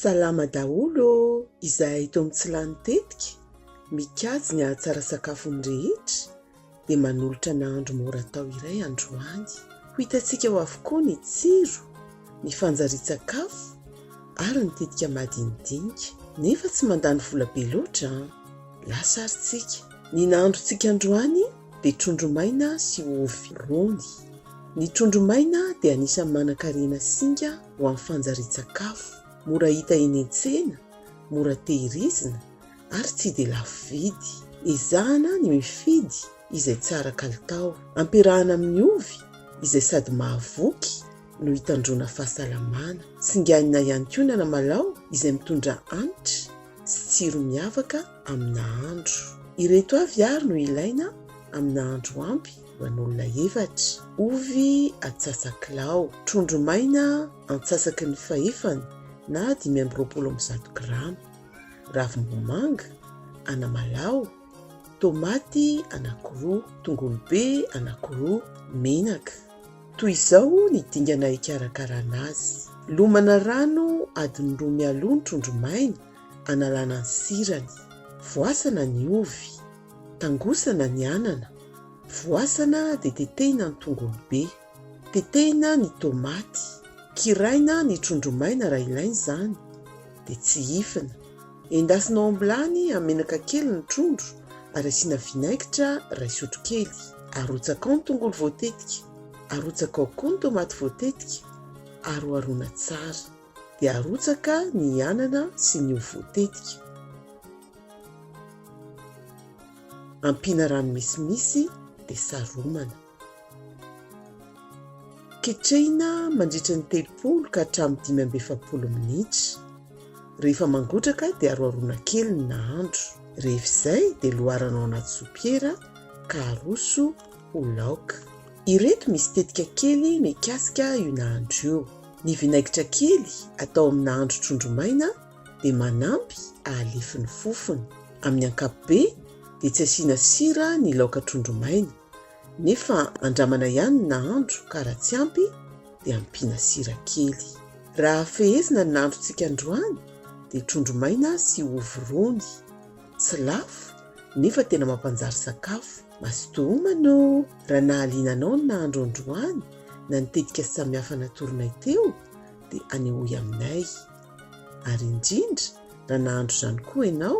Salama daholo ô! Izahay eto amin'ny Tsy Lany Tetika, mikajy ny hahatsara sakafon'ny rehetra, dia manolotra nahandro mora atao iray androany. Ho hitantsika ao avokoa ny tsiro! ny fanjarian-tsakafo ary ny tetika madinidinika. Nefa tsy mandany vola be loatra an! Lasa ary tsika. Ny nahandrontsika androany dia trondro maina sy ovy rony. Ny trondro maina dia anisan'ny manan-karena singa ho amin'ny fanjarian-tsakafo. Mora hita eny an-tsena, mora tehirizina ary tsy dia lafo vidy. Ezahana ny mifidy izay tsara kalitao. Ampiarahana amin'ny ovy izay sady mahavoky no hitandroana fahasalamana. Singanina ihany koa ny anamalao izay mitondra hanitra sy tsiro miavaka amin'ny nahandro. Ireto avy ary no ilaina amin'ny nahandro ampy ho an'olona efatra, ovy antsasakilao, trondro maina antsasaky ny fahefany na dimy amby roapolo amin'ny zato grama, ravim-bomanga, anamalao, Tomaty anankiroa, tongolo be anankiroa, menaka. Toy izao ny dingana hikarakarana azy. Lomana rano adiny roa mialoha ny trondro maina analana ny sirany. Voasana ny ovy. Tangosana ny anana. Voasana dia tetehina ny tongolo be. Tetehina ny tomaty, kiraina ny trondro maina raha ilaina izany, dia tsihifina. Endasina ao am-bilany amin'ny menaka kely ny trondro ary asiana vinaigitra iray sotrokely. Arotsaka ao ny tongolo voatetika, arotsaka ao koa ny tomaty voatetika, aroharoina tsara. Dia arotsaka ny anana sy ny ovy voatetika. Ampiana rano misimisy dia saromana. Ketrehina mandritry ny telopolo ka hatramin'ny dimy amby efapolo minitra. Rehefa mangotraka dia aroharoana kely ny nahandro. Rehefa izay dia loarana ao anaty sopiera ka aroso ho laoka. Ireto misy tetika kely mikasika io nahandro io. Ny vinaigitra kely atao amin'ny nahandro trondro maina dia manampy ahalefy ny fofony. Amin'ny ankapobeny dia tsy asiana sira ny laoka trondro maina. Nefa andramana ihany ny nahandro ka raha tsy ampy dia ampiana sira kely. Raha fehezina ny nahandrontsika androany dia trondro maina sy ovy rony. Tsy lafo nefa tena mampanjary sakafo. Mazotoa homana ô! Raha nahaliana anao ny nahandro androany na ny tetika samihafa natoronay teo dia anehoy aminay. Ary indrindra raha nahandro izany koa ianao